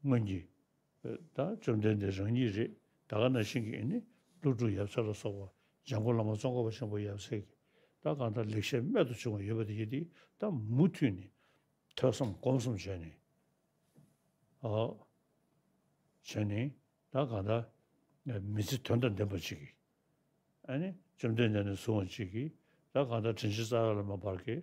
སྔོན་གྱི། ད་བཅོམ་ལྡན་འདས་རང་ཉིད་རེད་ད་ག་ན་ཤིང་གིས་ནི་ཀླུ་སྒྲུབ་ཡབ་སྲས་ལ་སོགས་པ་འཇང་གོ་ལ་མ་ཙོང་ཁ་བ་ཆེན་པོ་ཡབ་སྲས་ཀྱིས་ད་གང་ལྟར་ལེགས་བཤད་རྨད་དུ་བྱུང་བ་ཡོད་པ་དེ་ཡི་དེ་ད་མུ་མཐུད་ནས་ཐོས་བསམ་སྒོམ་གསུམ་བྱས་ནས། བྱས་ནས་ད་གང་ལྟར་མི་ཚེ་དོན་དང་ལྡན་པ་གཅིག་གིས་ཨ་ནི་བཅོམ་ལྡན་འདས་ནས་བཟུང་བ་གཅིག་གིས་ད་གང་ལྟར་དྲིན་ཆེན་རྩ་བ་ལ་མ་འབར་གས་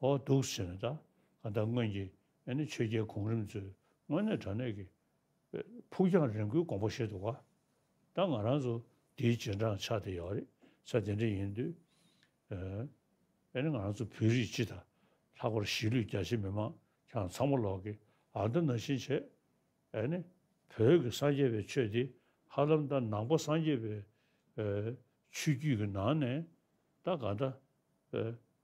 ཨོ་འདུག་ཟེར་ནས་ད་ག་ད་སྔོན་གྱི་ཆོས་རྒྱལ་གོང་རིམ་ཚོས་དངོས་གནས་དྲ་གནས་ཀྱི་ཕུགས་རྒྱང་རིང་བོའི་དགོངས་པ་བཞེས་འདུག་ག་ད་ང་རང་ཚོ་འདིའི་རྗེས་འབྲང་ཆགས་དེ་ཡོད་རེད་ས་དེ་འདྲ་ཡིན་དུས་ཨ་ནི་ང་རང་ཚོ་བོད་རིགས་སྤྱི་དང་ལྷག་པར་གཞིས་ལུས་རྒྱ་ཆེ་མི་མང་ཁྱང་ཚང་མ་ལོག་གི་ཨ་མདའ་ན་བཞིན་བྱས་ཨ་ནི་བོད་ཀྱི་སངས་རྒྱས་པའི་ཆོས་དེ་ཧ་ལམ་ད་ནང་པ་སངས་རྒྱས་པའི་ཆོས་བརྒྱུད་ཀྱི་ནང་ནས་ད་ག་ད་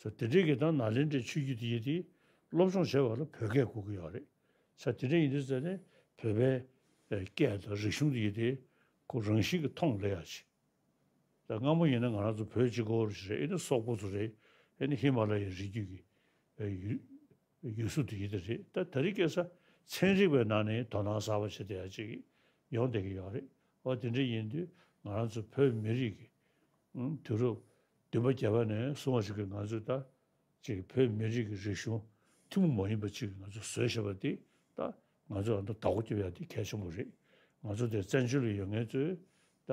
ས་དེ་འདྲའི་གི་དང་ནཱ་ལེནྡྲའི་ཆོས་བརྒྱུད་དེ་ཡི་དེ་སློབ་སྦྱོང་བྱེད་པ་ལ་བོད་སྐད་གོ་གི་ཡོད་རེད། ས་དེ་འདྲའི་ཡི་དེ་ཟེར་ནས་བོད་པའི་སྐད་དང་རིག་གཞུང་དེ་ཡི་དེ་ཁོ་རང་བཞིན་གི་མཐོང་ལེ་ཡ་བྱེད། ད་སྔ་མོ་ཡིན་ན་ང་རང་ཚོ་བོད་སྤྱི་གོ་རེ་ཞིག་རེད་ཨེ་ནི་སོག་པོ་ཚོ་རེད་ཨེ་ནི་ཧི་མ་ལ་ཡའི་རི་རྒྱུད་ཀྱི་ཡུལ་སྲོལ་དེ་ཡིན་དེ་རེད་ད་ད་རིག་སྐད་ས་ཚན་རིག་པའི་ནང་ནས་དོ་སྣང་ཟབ་པ་བྱེད་བསྡད་ཡ་ཅིག་ཡོང་བསྡད་ཀྱི་ཡོད་རེད་ཨོ་དེ་འདྲ་ཡིན་དུས་ང་རང་ཚོ་བོད་མི་རིགས་ཀྱི་དུས་རབས་བདུན་པ་བརྒྱད་པ་ནས་བཟུང་བ་ཞིག་གིས་ང་ཚོས་ད་ཅིག་བོད་མི་རིགས་ཀྱི་རིག་གཞུང་ཐུན་མོང་མ་ཡིན་པ་ཅིག་ང་ཚོ་བཟོས་ཞེས་པ་འདི་ད་ང་ཚོས་ཨ་མདོ་ད་གོ་སྐྱོབ་ཡ་དེ་གལ་ཆེན་པོ་རེད་ང་ཚོ་འདིར་བཙན་བྱོལ་ལ་ཡོད་ངེས་ཚོས་ད་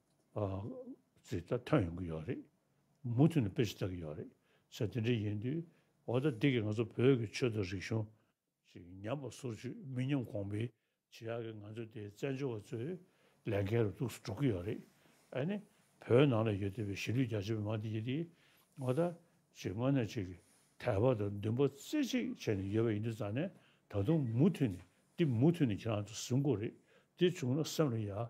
ཚིག་ཐ་ཐོན་ཡོང་གི་ཡོད་རེད། མུ་མཐུད་ནས་དཔེ་ཞིག་བལྟ་གི་ཡོད་རེད། ཆ་དེ་འདྲའི་ཡིན་དུས། འོ་ད་འདི་གི་ང་ཚོ་བོད་ཀྱི་ཆོས་དང་རིག་གཞུང། ཞིག་ཉམས་པ་སོར་ཆུད་མི་ཉམས་གོང་འཕེལ་བྱེད་ཡག་གི་ང་ཚོ་དེ་བཙན་བྱོལ་བ་ཚོའི་ལས་འགན་རུ་གཏུགས་སུ་འགྲོ་གི་ཡོད་རེད། ཨ་ནི། བོད་ནང་ལ་ཡོད་བསྡད་པའི་གཞིས་ལུས་རྒྱ་ཆེ་བའི་མང་འདི་ཡིན་དུས། འོ་ད། ཞིག་དངོས་གནས་ཆེ་གི་དད་པ་དང་འདུན་པ་རྩེ་གཅིག་བྱས་ནས་ཡོད་པ་ཡིན་དུས་ཙང་ནས་ད་དུང་མུ་མཐུད་ནས་འདི་མུ་མཐུད་ནས་ཁྱེད་རང་ཚོ་ཟིན་དགོས་རེད། འདི་བྱུང་ན་སེམས་ལ་ཡག་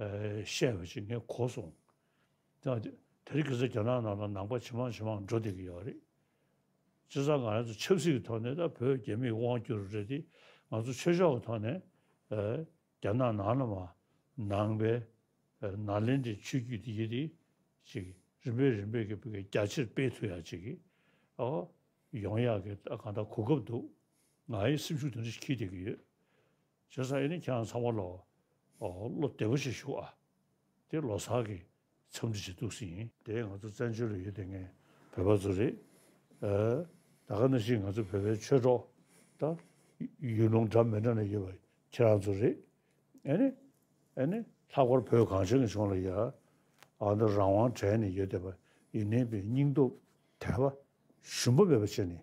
བཤད་པ་ཅིག་ངས་གོ་སོང། དེ་རིགས་ཀྱི་ཚེ་རྒྱ་ནག་ནང་ལ་ནང་པ་ཇེ་མང་ཇེ་མང་འགྲོ་བསྡད་ཀྱི་ཡོད་རེད། སྤྱིར་བཏང་ང་ཚོ་ཆབ་སྲིད་ཀྱི་ཐོག་ནས་ད་བོད་རྒྱ་མིས་དབང་བསྒྱུར་རེད་དེ་ང་ཚོ་ཆོས་ཕྱོགས་ཀྱི་ཐོག་ནས་རྒྱ་ནག་ནང་ལ་མ་ནང་པའི་ནག་ལེན་དེ་ཆུ་རྒྱུས་དེ་ཡི་དེ་ཅིག་རིམ་པས་རིམ་པས་ཀྱི་རྒྱ་ཆེར་སྤེལ་ཐུབ་ཡག་ཅིག་ཡོང་ཡག་གི་གང་ལྟར་གོ་སྐབས་འདུག་ང་ཡི་སེམས་ཤུགས་དེ་འདྲ་ཞིག་ཁྱིལ་བསྡད་ཀྱི་ཡོད། ཆོལ་ཟ་ཡི་ནི་ཁྱེད་རང་ཚང་མ་ལོ། བློ་བདེ་པོ་ཞིག་ཞུགས་ཨ། དེ་ལོ་སར་གི་འཚམས་འདྲི་བྱེད་གཏུགས་ཟིན་ཡིན། དེ་ང་ཚོ་བཙན་བྱོལ་ལ་ཡོད་དེ་ངའི་བོད་པ་ཚོ་རེད། ད་ག་ནས་ཤི་ང་ཚོ་བོད་པའི་ཆོས་གྲོགས་དང། ཡུལ་ལུང་འདྲ་མི་འདྲ་ནས་ཡོད་པ་ཁྱེད་རང་ཚོ་རེད། ཨེ་ནི། ཨེ་ནི། ལྷག་པར་བོད་གངས་ཅན་གྱི་ཕྱོགས་ལ་ཡ། ཨ་ནི་རང་དབང་དྲན་ནས་ཡོད་དེ་པ་ཡི་ནི་པའི་སྙིང་སྟོབས་དད་པ་ཞུམ་པ་མེད་པ་བྱེད་ནས